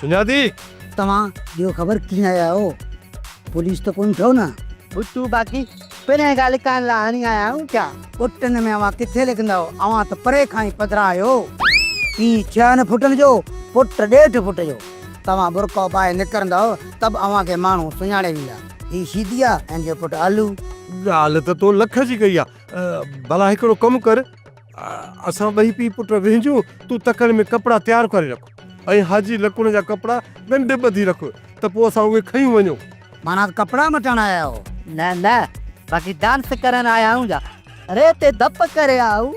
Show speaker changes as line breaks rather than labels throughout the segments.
سڃاتي؟ توهان
ڏيو خبر ڪيئن آيا آهيو؟ پوليس ته ڪونه ٿيو نه؟ ڀٽو باقي
پرينء کان لکائڻ لاء هڻي آيا آهيون ڇا؟ پٽن ۾ اوهان
ڪٿي لکندا آهيو؟ اوهان ته پري کان ئي پڌرا آهيو. پيء ڇهن فٽن جو، پٽ ڏيڍ فٽ جو. توهان برقعو پائي نڪرندا ته به اوهان کي ماڻهو سڃاڻي ويندا. هي شيدي آ ۽ هن جو پٽ آلو. ڳالهه ته تو
لک جي ڪئي آ. ڀلا هڪڙو ڪم ڪر، اسان ٻئي پيء پٽ وهنجون، تون تڪڙ ۾ ڪپڙا تيار ڪري رک. ۽ حاجي لڪڻ جا ڪپڙا ڳنڍ ٻڌي رک ته پوء اسان اهي کيون وڃون. معنيٰ ڪپڙا
مٽڻ آيا آهيو؟ نه نه
باقي ڊانس ڪرڻ آيا آهيون جا. ري تي ڌپ ڪري آئو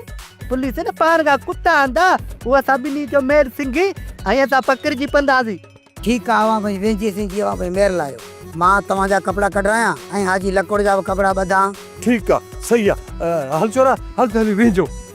پوليس نه پاڻ کان ڪتا آندا هو اسان ٻنهي جو ميل سنگهي ۽ اسان پکڙجي پنداسين. ٺيڪ آ اوهان
ڀئي وينجهي سنگهي اوهان ڀئي مير لاهيو مان توهان جا ڪپڙا ڪڍرايان ۽ حاجي لڪڻ جا به ڪپڙا ٻڌان. ٺيڪ آ
سهي آ هل ڇورا هل ته هلي وينجهون.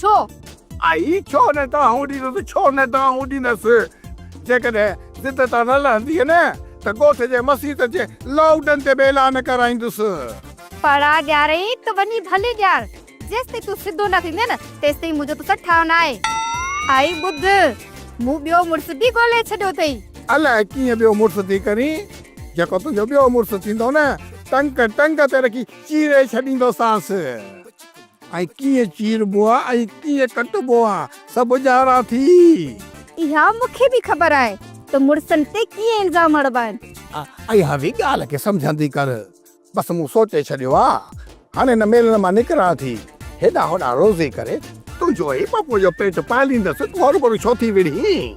ڇو؟ آئي
ڇو نه دانهون ڏيندس، ڇو نه دانهون ڏيندس. جيڪڏهن ضد تان نه لهنديء نه ته ڳوٺ جي مسيت جي لائوڊن تي به اعلان ڪرائيندس. پڙا
ڏيارين ته وڃي ڀلي ڏيار، جيستائين تون سڌو نه ٿيندين نه تيستائين منهنجو توسان ٺاهه نه آهي. آئي ٻڌ، مون ٻيو مڙس به ڳولهي ڇڏيو اٿئي. الاء ڪيئن ٻيو
مڙس ٿي ڪرين، جيڪو تنهنجو ٻيو مڙس ٿيندو نه ٽنگ ٽنگ تي رکي چيري ڇڏيندوسانس. ۽ ڪيئن چيربو آ ۽ ڪيئن ڪٽبو آ سڀ ڄاڻان ٿي. اها
مون کي به خبر آهي ته مڙسن تي ڪيئن الزام هڻبا آهن. اها به
ڳالهه کي سمجهندي ڪر. بس مون سوچي ڇڏيو آ هاڻي هن ميلڻ مان نڪران ٿي. هيڏانهن هوڏانهن روزي ڪري تنهنجو ۽ پڦوء جو پيٽ پاليندس تون هروڀرو ڇو ٿي وڙهين.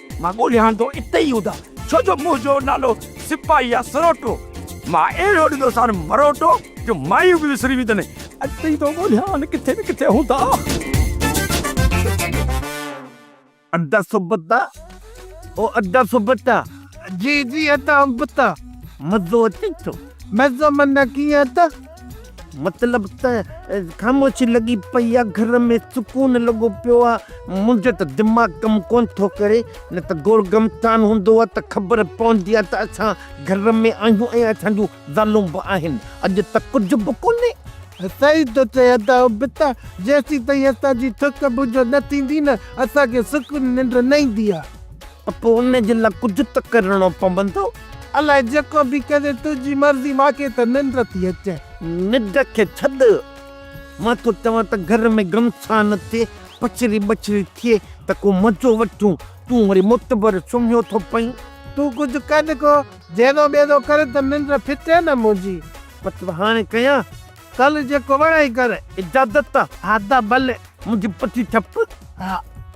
مان ڳوليان ٿو اتي ئي ادا. ڇو جو منهنجو نالو سپاهي آ سروٽو. مان اهڙو ڏنوسان مروٽو جو مايون به وسري ويندن. اڄ تائين ٿو ڳوليان ڪٿي نه ڪٿي هوندا. ادا سبتا او ادا سبتا. جي جي ادا ابتا مزو اچي ٿو. مزو معنيٰ ڪيئن ادا.
مطلب ته خاموشي لڳي پئي آ، گهر ۾ سڪون لڳو پيو آ، منهنجو ته دماغ ڪم ڪونه ٿو ڪري، نه ته گول گمسان هوندو آ ته خبر پوندي آ ته اسان گهر ۾ آهيون ۽ اسان جون زالون به آهن، اڄ ته ڪجهه به ڪونهي. صحيح ٿو
چئين ادا ابتا، جيسين تائين اسان جي سڪ منجهه نه ٿيندي نه اسان کي سڪون ننڊ نه ايندي آ. ته پوء ان جي لاء
ڪجهه ته ڪرڻو پوندو. الاء جيڪو
به ڪري تنهنجي مرضي مان کي ته ننڊ ٿي اچي. ننڊ کي
ڇڏ مان ٿو چوان ته گهر ۾ گهمسان ٿئي پڇري ٻڇري ٿئي ته ڪو مزو وٺون تون وري معتبر سمهيو ٿو پئين. تون ڪجهه ڪر
ڪو جهيرو ٻيرو ڪر ته ننڊ ڦٽي نه منهنجي. بس هاڻي
ڪيان. ڪر جيڪو
وڻئي ڪر. اجازت. ها
ته ڀلي.
منهنجي پٺي ڇپ.
ها.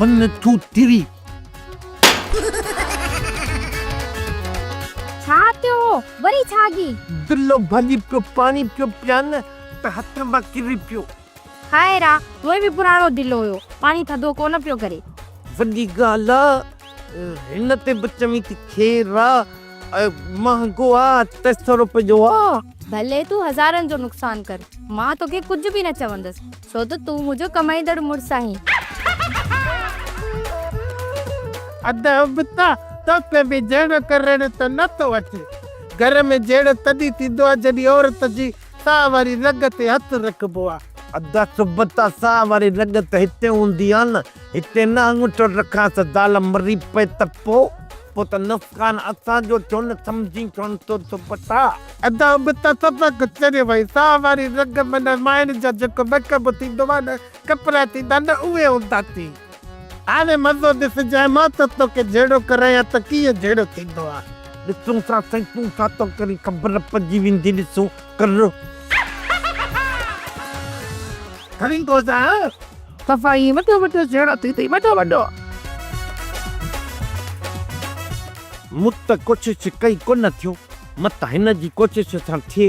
من ٿو تري.
ڇا ٿيو هو وري ڇاگي. دلو ڀڄي
پيو پاڻي پيو پيان ته هٿ مان ڪري پيو. خير آ،
هونئن به پراڻو دل هيو، پاڻي ٿڌو ڪونه پيو ڪري. وڏي
ڳالهه آ، هن تي به چوين ٿي خير آ، مهانگو آ، ٽي سؤ روپين جو آ. ڀلي تون هزارن
جو نقصان ڪر، مان توکي ڪجهه به نه چوندس، ڇو ته تون منهنجو ڪمائيندڙ مڙس آهين.
ادا ابتا، توکي به جهيڙو ڪرڻ ته نه ٿو اچي. گهر ۾ جهيڙو تڏهن ٿيندو آ، جڏهن عورت جي سان واري رڳ تي هٿ رکبو آ. ادا صبح
تان سان واري رڳ ته هتي هوندي آ نه. هتي نه آڱوٺو رکان ته زال مري پئي ته پو؟ پو ته نقصان اسان جو ٿيو نه سمجهين ڇونه ٿو دوپٽا. ادا به ته
سبق چريو هئي. سان واري رڳ معنيٰ مائڻ جا جيڪو ميڪ اپ ٿيندو آ نه ڪپڙا ٿيندا آهن نه اهي هوندا ٿي. آوي مزو ڏس جاء مان ته توکي جهيڙو ڪرايان ته ڪيئن جهيڙو ٿيندو آ. ڏسون ٿا سائين
تون ڇا ٿو ڪرين خبر پئجي ويندي ڏسون ڪر.
کڻي گوزا صفا
ائين وڏو وڏو جهيڙو ٿيندي وڏو وڏو. مون ته ڪوشش ڪئي ڪونه ٿيو مت هن جي ڪوشش سان ٿئي.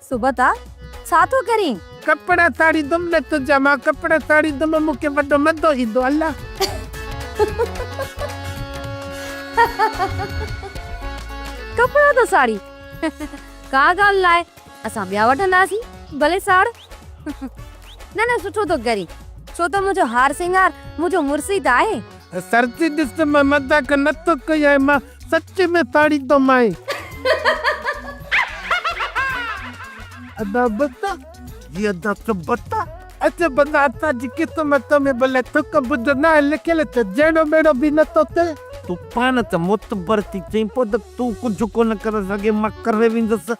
صبح
تان ڇا ٿو ڪرين؟ ڪپڙا ساڙيندم
نه تنهنجا مان ڪپڙا ساڙيندم مون کي وڏو مزو ايندو الله.
ڪپڙا ٿو ساڙين ڪا ڳالهه ناهي اسان ٻيا وٺنداسين ڀلي ساڙ نه نه سٺو ٿو ڪرين ڇو ته منهنجو هار سينگار منهنجو مڙس ئي ته آهي. سرتي ڏس مان
مذاق نه ٿو ڪيان مان. سچ ۾ ساڙي تو مائي. ادا بت جي ادا
ته بت. اچ بتا
اسان جي قسمت ۾ بلي ٿڪ ٻڌ نه آهي لکيل ته جهيڙو ميڙو به نه ٿو ٿئي. تون پاڻ ته
معتبر ٿي چئين پوء ته تون ڪجهه ڪونه ڪري سگهين مان ڪري ويندس.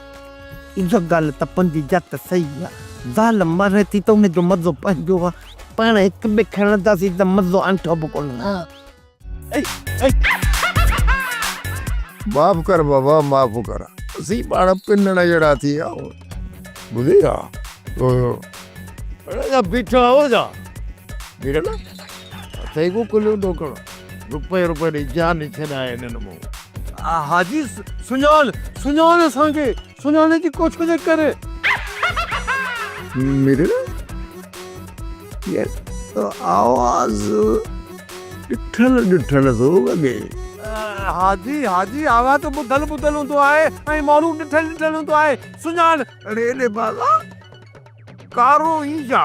اها
ڳالهه ته پنهنجي جت صحيح آ. زال ماري ٿي ته ان جو مزو پنهنجو آ. پاڻ هڪ ٻئي کي هڻنداسين ته مزو انٺو به ڪونه.
معاف ڪر بابا معاف ڪر. اسين پاڻ پنڻ جهڙا ٿي ويا آهيون. ٻڌئي ها. اڙي جا بيٺا آهيو ڇا. ٺيڪ آهي نه. ٿيڳو ڪليون ڏوڪڙ، روپئي روپئي ڏئي جان ئي ڇڏائي ڏنم هو. حاجي
سڃاڻ، سڃاڻ اسان کي، سڃاڻي جي ڪوٺيء جي ڪري. مرڙ،
يار تو آواز ڏٺل ڏٺل ٿو لڳي. حاجي،
حاجي آواز ته ٻڌل ٻڌل هوندو آهي ۽ ماڻهو ڏٺل ڏٺل هوندو آهي. سڃاڻ. اڙي اڙي بازا. ڪارو ئي جا.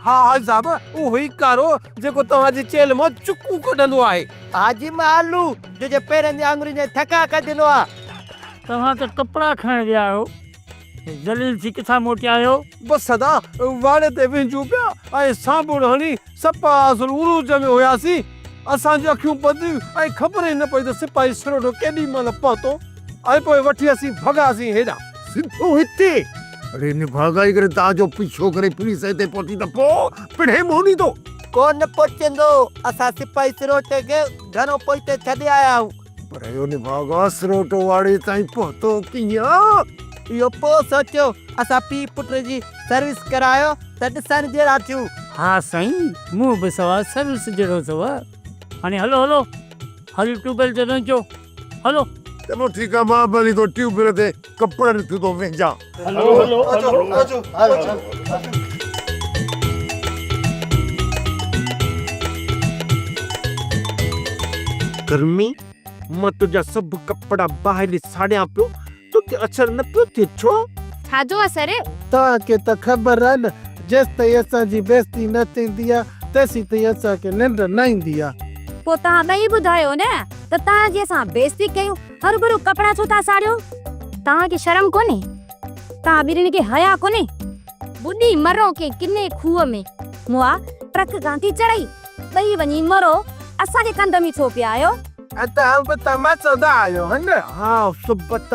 ها حاجي صاحب اهو ئي ڪارو جيڪو توهان جي چيلهه مان چڪون ڪڍندو آهي. حاجي مالو
جو جي پيرن جي آڱرين جا ٿڪا ڪڍيندو آ. توهان ته
ڪپڙا کڻڻ ويا آهيو ذليل ٿي ڪٿان موٽيا آهيو. بس سدا
واڙي تي وهنجون پيا ۽ سانبوڙ هڻي سپا اصل عروج ۾ هياسين. اسان جون اکيون ٻڌيون ۽ خبر ئي نه پئي ته سپاهي سرهوٽو ڪيڏي مهل پهتو ۽ پوء وٺي اسين ڀڳاسين هيڏانهن. سنڌو هتي
اڙي نڀاڳائي ڪري تان جو پيڇو ڪري پوليس هتي پهتي ته پوء پڻهين موني ٿو. ڪو نه پهچندو.
اسان سپاهي سرهوٽي کي گهڻو پوئتي ڇڏي آيا آهيون. پر اهو نڀاڳ
آسروٽ واڙي تائين پهتو ڪيئن؟ اهو پوء
سوچيو، اسان پيء پٽ جي سروس ڪرايو ته ڏسڻ جهڙا ٿيون. ها سائين،
مون به سواء سروس جهڙو اٿو. هاڻي هلو هلو، هل ٽيوب ويل تي نه اچو، هلو. چلو ٺيڪ آهي،
مان به هلي ٿو ٽيوب ويل تي. ڪپڙن ٿي ٿو وينجان.
ڪرمي، مان تنهنجا سڀ ڪپڙا باهه ساڙيان پيو، توکي اثر نه پيو ٿئي، ڇو؟ ڇا جو اثر؟
توهان کي ته
خبر آهي نه، جيستائين اسان جي بيعزتي نه ٿيندي آهي، تيسيتائين اسان کي ننڊ نه ايندي آهي. پوء توهان ٻئي
ٻڌايو نه ته توهان جي اسان بيعزتي ڪيون. هروڀرو ڪپڙا ڇو ٿا ساڙيو؟ توهان کي شرم ڪونهي؟ توهان ٻرين کي حيا ڪونهي؟ ٻڏي مرو ڪنهن ڪني کوهه ۾. مئا ٽرڪ کان ٿي چڙهي، ٻئي وڃي مرو، اسان کي ڪنڌ ۾ ڇو پيا آهيو؟ توهان به ته
مچندا آهيو ها نه؟ ها سبت،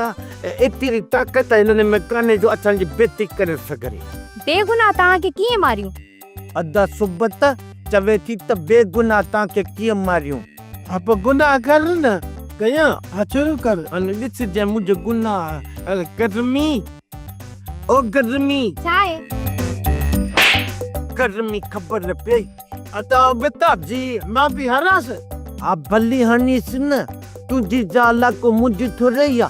ايتري طاقت هنن ۾ ڪانهي جو اسان جي بيعزتي ڪري سگهري. بيگناهه توهان
کي ڪيئن ماريون؟ ادا
سبته چوي ٿي ته بي گناھ تان کي ڪيئن ماريون. ها پوء گناھ
ڪر نه ڪيان ها شروع ڪر. هن ڏس جنهن منهنجو
گناھ ار ڪرمي او ڪرمي. ڇا اي. ڪرمي خبر نه پئي. ادا بيتاب
جي مان پئي هرانس. ها ڀلي
هڻيس نه تنهنجي زال ها ڪو منهنجي ٿورئي ها.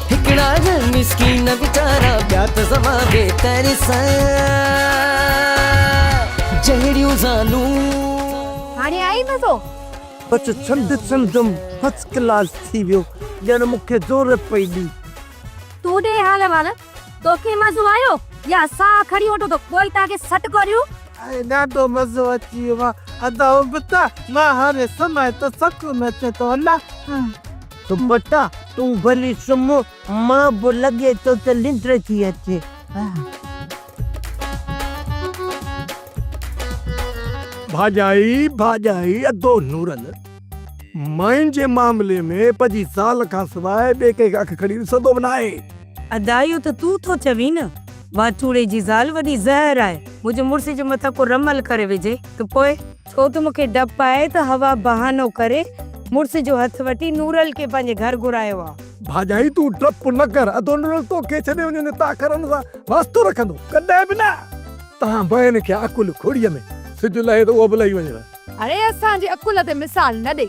هڪڙا نه مسڪين ويچارا ٻيا ته سوا بي ترس جهڙيون زالون. هاڻي
آئي مزو. بس ڇنڊ
ڇنڊم فرسٽ ڪلاس ٿي ويو ڄڻ مون کي زور پئي ڏي. تون ڏي
حال احوال توکي مزو آيو يا اسان کڻي وٺون تو ڪوئيٽا کي سڏ ڪريون. اهي ڏاڍو
مزو اچي ويو آ ادائون به ته مان هاڻي سمهايان ته سڪون اچي ٿو الا. سمبتا
تون ڀلي سم مان به لڳي ٿو ته ننڊ ٿي اچي.
ڀاڄائي ڀاڄائي ادو نورل ماين جي معاملي ۾ پنهنجي زال کان سواء ٻئي ڪنهن کي اک کڻي ڏسندو به ناهي. ادا اهو ته
تون ٿو چوين نه واچوڙي جي زال وڏي زهر آهي منهنجي مڙس جي مٿان ڪو رمل ڪري وجهي ته پوء. ڇو ته مونکي ڊپ آهي ته حوا بهانو ڪري مڙس جو هٿ وٺي نورل کي پنهنجي گهر گهرايو آ. ڀاڄائي تون ڊپ
نه ڪر ادو نورل توکي ڇڏي وڃي ته تاخرن سان واسطو رکندو ڪڏهن به نه. تهان بهن کي عقل کوڙيء ۾ سج لهي ته اهو به لهي وڃيو. اڙي اسان جي
عقل تي مثال نه ڏي.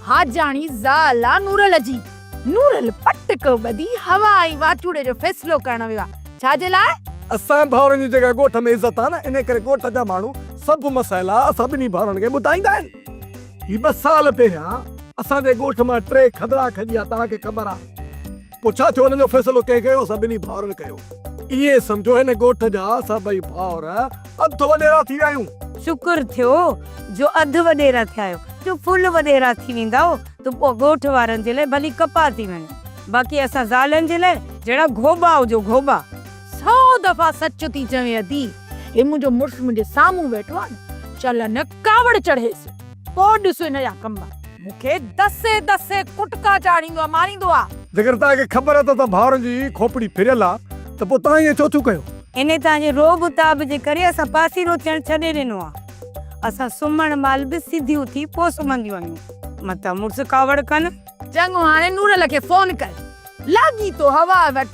حاجاڻي زال آ نورل جي. نورل پٽ ڪو ٻڌي هوا ۽ واچوڙي جو فيصلو ڪرڻ ويو آهي. ڇا جي لاء؟ اسان ڀائرن جي
جيڪا ڳوٺ ۾ عزت آهي نه انهي ڪري ڳوٺ جا ماڻهو سڀ مسئلا اسان ٻنهي ڀائرن کي ٻڌائيندا آهن. هي ٻه سال پهريان اسان جي ڳوٺ مان ٽي کدڙا کڄيا توهان کي خبر آهي. پوء ڇا ٿيو انهن جو فيصلو ڪنهن ڪيو اسان ٻنهي ڀائرن ڪيو. ائين سمجهو هن ڳوٺ جا اسان ٻئي ڀائر اڌ وڏيرا ٿي ويا آهيون. شڪر ٿيو
جو اڌ وڏيرا ٿيا آهيو نه ڦل وڏيرا ٿي ويندؤ. تون پوء ڳوٺ وارن جي لاء ڀلي ڪپاء ٿي وڃ، باقي اسان زالن جي لاء جهڙا گهوٻا هجو گهوٻا. سئو
دفعا سچ ٿي چوين ادي، هي منهنجو مڙس منهنجي سامهون ويٺو آهي نه، چل هن ڪاوڙ چڙهيس، پوء ڏس هن جا ڪم. مون کي دسي دسي ڪٽڪا چاڙهيندو آهي، ماريندو آهي. جيڪڏهن توهان کي خبر
اٿس ته ڀائرن جي کوپڙي ڦريل آهي ته پوء توهان ائين ڇو ٿيون ڪيو؟ انهي توهان جي رعب
و تاب جي ڪري اسان پاسيرو ٿيڻ ڇڏي ڏنو آهي. اسان سمهڻ مهل به سڌيون ٿي پوء سمهنديون آهيون.
متان
مڙس
ڪاوڙ
ڪن. چڱو
هاڻي
نورل
کي
فون
ڪر. لاڳيتو هوا وٽ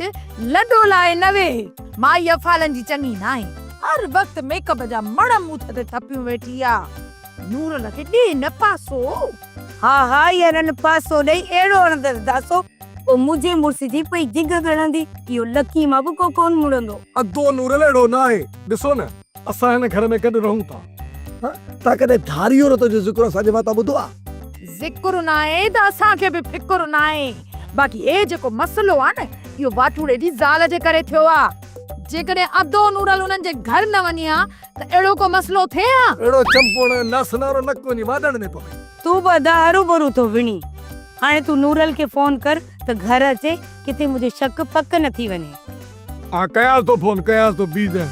لڏو لاهي نه ويهه. مائي افعالن جي چڱي ناهي. هر وقت ميڪ اپ جا مڻ مون تي ٿڦيون ويٺي آ. نورل کي ڏي نه پاسو. ها ها
يا رن پاسو ڏئي اهڙو هڻندس داسو. او منهنجي مڙس جي پئي جگهه ڳڻندي. اهو لڪي مان به ڪو ڪون مڙندو. ادو نورل اهڙو
ناهي ڏسو نه. اسان هن گهر ۾ گڏ رهون ٿا. تان ڪڏهن ڌاري عورت جو ذڪر اسان جي واتان ٻڌو آهي؟ ذڪر ناهي
ته اسان کي به فڪر ناهي. باقي هي جيڪو مسئلو آهي نه اهو واٽوڙي جي زال جي ڪري ٿيو آهي. جيڪڏهن ادو نورل انهن جي گهر نه وڃي ها ته اهڙو ڪو مسئلو ٿئي ها؟ اهڙو چمپوڻ
ناسنارو نڪ وڃي واڏڻ ۾ پوي. تون به ادا هروڀرو
ٿو وڻين. هاڻي تون نورل کي فون ڪر ته گهر اچي ڪٿي منهنجو شڪ پڪ نه ٿي وڃي. آء ڪيانس
ٿو فون ڪيانس ٿو بيزن.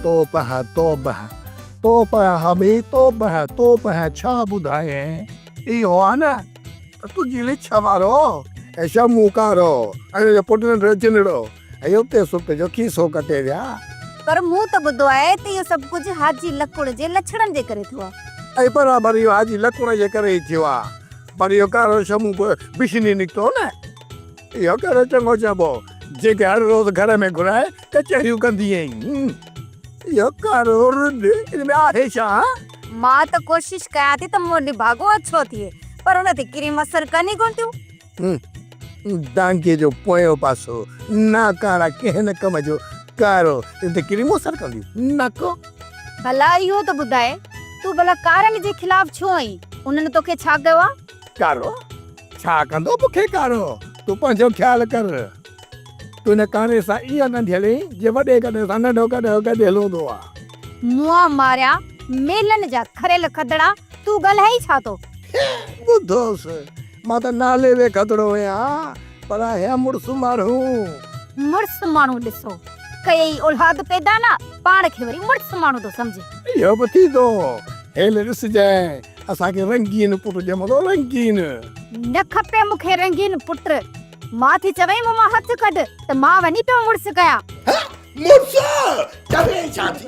توبه توبه توبه حمي توبه توبه ڇا ٻڌايين اهو آ نه ته تنهنجي لڇ وارو ۽ شمون ڪارو ۽ ان جو پٽ ننڍڙو جنڙو. اهو پئي سڪ جو ڪي سو ڪٽي ويا. پر مون ته
ٻڌو آهي ته اهو سڀ ڪجهه حاجي لڪڻ جي لڇڻن جي ڪري ٿيو آهي. اهي برابر اهو
حاجي لڪڻ جي ڪري ئي ٿيو آهي. پر اهو ڪارو شمون به بشني نڪتو نه. اهو ڪهڙو چڱو چئبو جيڪي هر روز گهر ۾ گهرائي ڪچهريون ڪندي ايئين. اهو ڪارو رڍ ان ۾ آهي ڇا؟ مان ته
ڪوشش ڪيان ٿي ته منهن نڀاڳو اڇو ٿئي پر ان تي ڪريم اثر ڪني ڪونه ٿيون. ٽانڪي جو
پويون پاسو، ناڪارا ڪنهن نه ڪم جو، ڪارو ته ڪهڙي مون سر ڪندي، نڪو. ڀلا اهو
ته ٻڌاء، تون ڀلا ڪارن جي خلاف ڇو آهين؟ انهن توکي ڇا ڪيو آ؟ ڪارو،
ڇا ڪندو مون کي ڪارو؟ تون پنهنجو خيال ڪر. تون هن ڪاري سان ايئن نه جهلين، جيئن وڏي گڏهه سان ننڍو گڏهه گڏيل هوندو آ. مون ماريا
ميلن جا کريل کدڙا، تون ڳالهائين ڇا ٿو؟ ٻڌوس،
مان ته نالي به گدڙو هيان پر هيان مڙس ماڻهو. مڙس
ماڻهو ڏسو ڪيئي اولاد پيدا نه پاڻ کي وري مڙس ماڻهو ٿو سمجهي. اهو به ٿيندو
هيل ڏسجانء اسان کي رنگين پٽ ڄمندو رنگين. نه کپي
مون کي رنگين پٽ. مان ٿي چوين مون مان هٿ ڪڍ ته مان وڃي پيو مڙس ڪيان. هه مڙس ڪرين ڇا ٿي.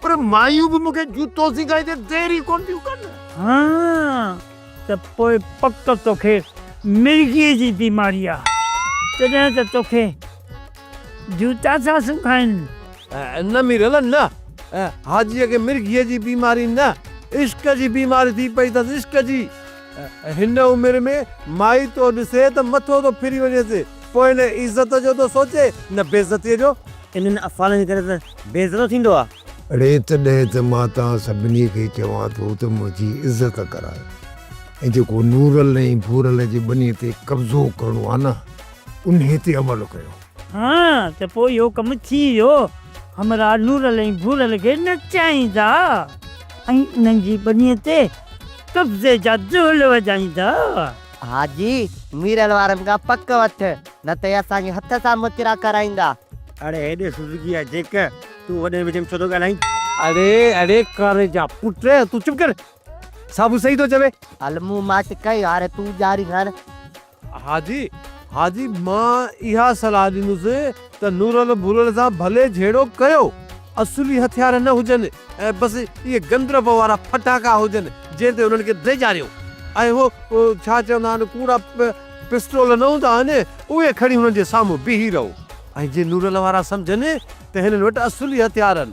پر مايون به مون کي جوتو سيکائي تي دير ئي ڪونه ٿيون ڪن. ها
ته پوء پڪ توکي مرگيء جي بيماري آ تڏهن ته توکي جوتا ٿا سکائين. نه ميرل نه
حاجيء کي مرگيء جي بيماري نه عشق جي بيماري ٿي پئي اٿس عشق جي. هن عمر ۾ مائي تو ڏسي ته مٿو ٿو ڦري وڃيس پوء نه عزت جو ٿو سوچي نه بيعزتيء جو. انهن افعالن جي
ڪري ته بي عزتو ٿيندو آ. اڙي تڏهن
ته مان توهان سڀني کي چوان ٿو ته منهنجي عزت ڪرايو ۽ جيڪو نورل ۽ ڀورل جي ٻني تي قبضو ڪرڻو آ نه انهي تي عمل ڪيو. ها ته
پوء اهو ڪم ٿي ويو. همراهه نورل ۽ ڀورل کي نچائيندا ۽ انهن جي ٻني تي قبضي جا دهل وڄائيندا. حاجي
ميرل وارن کان پڪ وٺ. نه ته اهي اسان کي هٿ سان مترا ڪرائيندا. اڙي هي ڏس
سوزوڪي جا جيڪ، تون وڏي وچ ۾ ڇو ٿو ڳالهائين؟ اڙي اڙي ڪاري جا پٽ، تون چپ ڪر، صابو صحيح ٿو چوي. هل مون ماٺ
ڪئي، هاڻي تون ڄاري هڻ. حاجي، حاجي
مان اها صلاح ڏيندس ته نورل ڀورل سان ڀلي جهيڙو ڪيو، اصلي هٿيار نه هجن ۽ بس اهي گندرف وارا ڦٽاڪا هجن جنهن تي انهن کي ڊيڄاريو. اهي هو ڇا چوندا آهن ڪوڙا. پسٽول نه هوندا آهن، اهي کڻي هنن جي سامهون بيهي رهو. ۽ جي نورل وارا سمجهن ته هنن وٽ اصلي هٿيار آهن.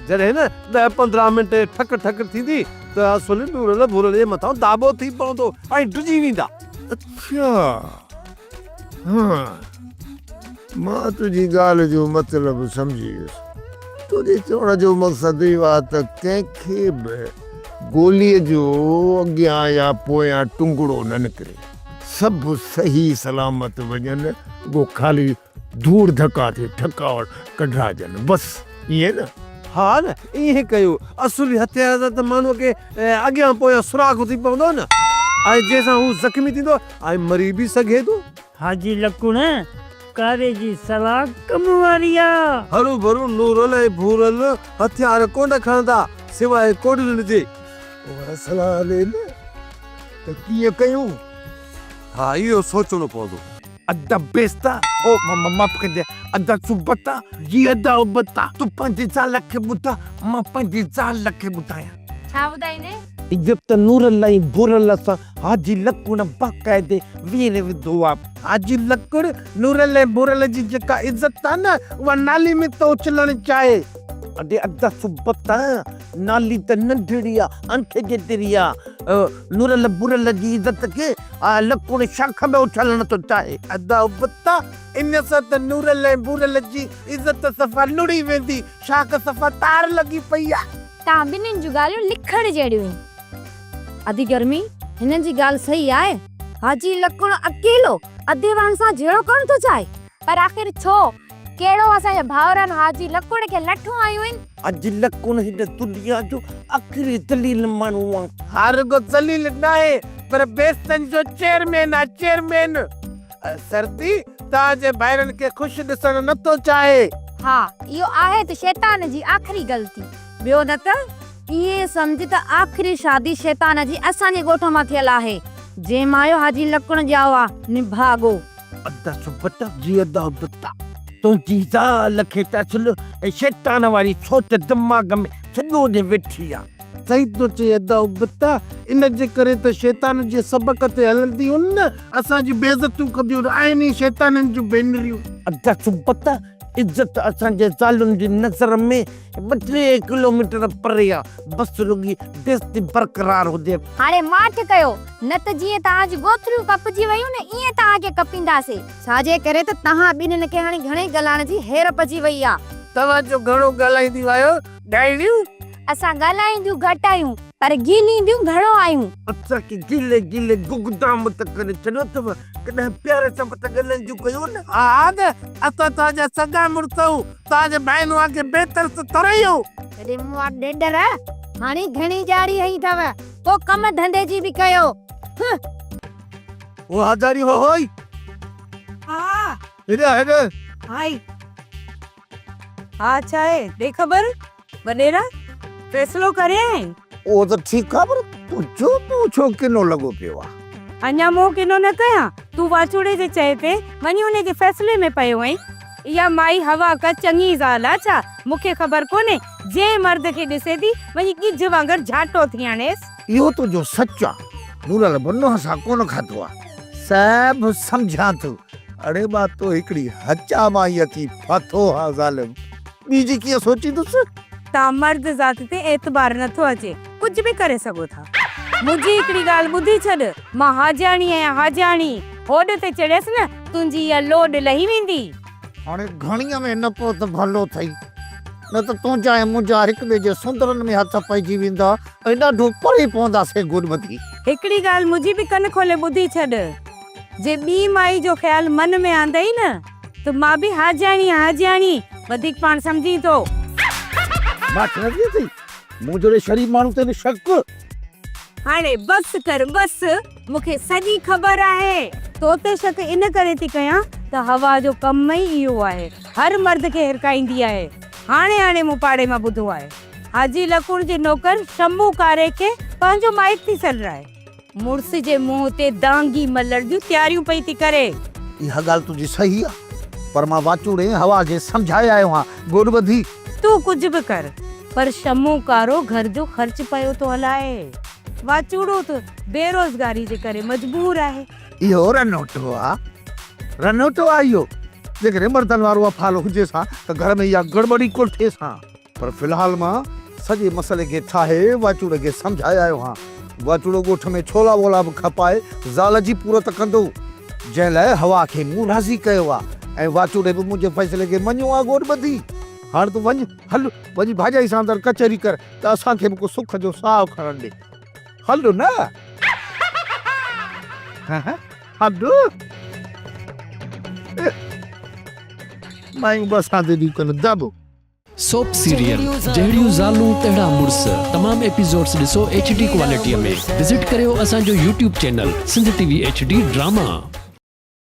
جڏهن ڏهه پندرهن منٽ ٺڪ ٺڪ ٿيندي ته اصلي نورل ڀورل جي مٿان داٻو ٿي پوندو ۽ ڊڄي ويندا. اڇا!
ها! مان تنهنجي ڳالهه جو مطلب سمجهي ويس. تنهنجي چوڻ جو مقصد اهو آهي ته ڪنهن کي به. گوليء جو اڳيان يا پويان ٽنگڙو نه نڪري. سڀ صحيح سلامت وڃن، رڳو خالي ڌوڙ ڌڪا ٿي ٺڪا ڪڍرائجن، بس ائين نه؟ ها نه،
ائين ڪيو اصولي هٿيار سان ته ماڻهوء کي اڳيان پويان سراخ ٿي پوندو نه ۽ جنهن سان هو زخمي ٿيندو ۽ مري به سگهي ٿو. حاجي لڪڻ ڪاري
جي صلاح ڪم واري آ. هروڀرو نورل
۽ ڀورل هٿيار ڪونه کڻندا سواء ڪوڏلين جي. وري صلاح
ڏي نه ته ڪيئن ڪيون؟ ها
اهو سوچڻو پوندو. ادا بيستا
او معاف ڪجي ادا سبتا جي ادا ابتا تون پنهنجي زال کي ٻڌاء مان پنهنجي زال کي ٻڌايان. ڇا
ٻڌائيندي؟ ايجپت نور
الله ۽ گور الله سان حاجي لڪوڻ باقاعدي ويڙهي وڌو آ. حاجي لڪوڻ نور الله ۽ گور الله جي جيڪا عزت آ نه اها نالي ۾ ٿو اڇلڻ چاهي. اڙي ادا سبت آ، نالي ته ننڍڙي آ، آنٺي جيتري آ. نور الله گور الله جي عزت کي آء لڪوڻ شاخ ۾ اڇلڻ ٿو چاهي. ادا ابتا، ان سان ته نور الله ۽ گور الله جي عزت صفا لڙهي ويندي، شاخ صفا تار لڳي پئي آ. تان ٻنهين جون
ڳالهيون لکڻ جهڙيون آهن. ادي گرمي، هنن جي ڳالهه صحيح آهي. حاجي لڪڻ اڪيلو اديوان سان جهيڙو ڪرڻ ٿو چاهي. پر آخر ڇو؟ ڪهڙو اسان جي ڀائرن حاجي لڪڻ کي لٺون هنيون آهن؟ حاجي لڪڻ هن
دنيا جو آخري ذليل ماڻهو آهي. ها رڳو ذليل ناهي پر بيستن جو چيئرمين آهي، چيئرمين! سرتي تان جي ڀائرن کي خوش ڏسڻ نه ٿو چاهي. ها اهو
آهي ته شيطان جي آخري غلطي. ٻيو نه ته ائين سمجهه ته آخري شادي شيطان جي اسان جي ڳوٺ مان ٿيل آهي. جنهن مايو حاجي لڪڻ ڄائو آ نڀاڳو. ادا سبته
جي ادا ابته تنهنجي زال کي ته اصل شيطان واري سوچ دماغ ۾ سڄو ڏينهن ويٺي آ. سائين تو چئين
ادا ابتا ان جي ڪري ته شيطان جي سبق تي هلنديون نه اسان جي بيعزتيون ڪنديون آهن اهي شيطانن جون ڀينريون. ادا سبتا
عزت اسان جي زالن جي نظر ۾ ٻه ٽي ڪلوميٽر پري آ بس رڳي بيعزتي برقرار هجي. هاڻي ماٺ ڪيو
نه ته جيئن توهان جون ڳوٿريون ڪپجي ويون نه ايئن توهان کي ڪپينداسي. ڇا جي ڪري ته توهان ٻنهين کي هاڻي گهڻي ڳالهائڻ جي هير پئجي وئي آ. توهان جو گهڻو
ڳالهائينديون آهيو. ڳالهيون اسان
ڳالهائينديون گهٽ آهيون، پر گيلينديون گهڻو آهيون. اسان کي گيلي
گيلي گگدام ته ڪري ڇڏيو اٿو، ڪڏهن پيار سان به ته ڳالهائينديون ڪيو نه. آگ، اسان
توهان جا سڳا مڙس آهيون، توهان جي ڀائين وان ڪي بي ترس ٿورئي آهيون. ڪڏهن مون وٽ
ڍيڍر هڻي گهڻي ڄاڙي هنئي اٿو، ڪو ڪم ڌنڌي جي به ڪيو،
هه. هو هزاري هو هوئي. آ.
هيڏانهن هيڏانهن.
هائي.
ها ڇا آهي ڏي خبر وڏيرا فيصلو ڪريائين. اهو ته ٺيڪ آهي
پر تنهنجو منهن ڇو ڪنو لڳو پيو آهي. اڃا منهن ڪنو
نه ڪيان تون واچوڙي جي چئي تي وڃي ان جي فيصلي ۾ پيو آهين. اها مائي هواڪ چڱي زال آهي ڇا مون کي خبر ڪونهي جنهن مرد کي ڏسي ٿي وڃي ڳجهه وانگر جهاٽو ٿي هڻيس. اهو تنهنجو سچ
آ. مون لعل بنو هسان ڪونه کاڌو آ. صاحب سمجهان ٿو. اڙي مان تو هڪڙي هچا مان ئي اچي ڦاٿو هان ظالم. ٻيجي ڪيئن سوچيندس. تان مرد
ذات تي اعتبار نه ٿو اچي. ڪجهه به ڪري سگهو ٿا. منهنجي هڪڙي ڳالهه ٻڌي ڇڏ. مان حاجياڻي آهيان حاجياڻي. هوڏ تي چڙهيس نه تنهنجي اها لوڏ لهي ويندي. هاڻي
گهڻيء ۾ نه پئو ته ڀلو ٿئي. نه ته تنهنجا ۽ منهنجا هڪ ٻئي جي سندرن ۾ هٿ پئجي ويندا ايڏا ڏونهه پڙهي پونداسين گڏ ٻڌي. هڪڙي ڳالهه منهنجي
به ڪن کولي ٻڌي ڇڏ. جي ٻي مائي جو خيال من ۾ آندئي نه ته مان به هاجياڻي آهيان هاجياڻي وڌيڪ پاڻ سمجهين ٿو.
ماٺ نه ٿئي ٿي مون جهڙي شريف ماڻهو تي به شڪ. هاڻي
بس ڪر بس مون کي سڄي خبر آهي. تو تي شڪ ان ڪري ٿي ڪيان ته حوا جو ڪم ئي اهو آهي هر مرد کي هرکائيندي آهي هاڻي هاڻي مون پاڙي مان ٻڌو آهي. حاجي لڪوڻ جي نوڪر شمو ڪاري کي پنهنجو مائٽ ٿي سڏرائي. مڙس جي منهن تي دانگي ملڻ جون تياريون پئي ٿي ڪري. اها ڳالهه تنهنجي
صحيح آ پر مان واچوڙي هوا کي سمجهائي آيو آهيان. گوڏ ٻڌي. تون ڪجهه به
ڪر پر شمو ڪارو گهر جو خرچ پيو ٿو هلائي. واچوڙو ته بيروزگاري جي ڪري مجبور آهي. اهو رنوٽو
آ. رنوٽو آ اهو. جيڪڏهن مردن وارو اهو ڦالو هجيس ها ته گهر ۾ اها گڙٻڙي ڪونه ٿيس ها. پر في الحال مان سڄي مسئلي کي ٺاهي واچوڙي کي سمجهائي آيو آهيان. واچوڙو ڳوٺ ۾ ڇولا وولا به کپائي زال جي پورت ڪندو. جنهن لاء حوا کي مون راضي ڪيو آهي ۽ واچوڙي به منهنجي فيصلي کي مڃيو آهي گوڏ ٻڌي. هاڻ تون وڃ، هل وڃي ڀاڄائي سان اندر ڪچهري ڪر ته اسان کي به ڪو سک جو ساهه کڻڻ ڏي. هل نه! هل! مايون به اسان تي ڏيون ڪن، دٻ! سوپ
سيريل جهڙيون زالون تهڙا مڙس تمام ايپيسوڊس ڏسو ايڇ ڊي ڪوالٽيء ۾ وزٽ ڪريو اسان جو YouTube channel Sindh T V H D drama.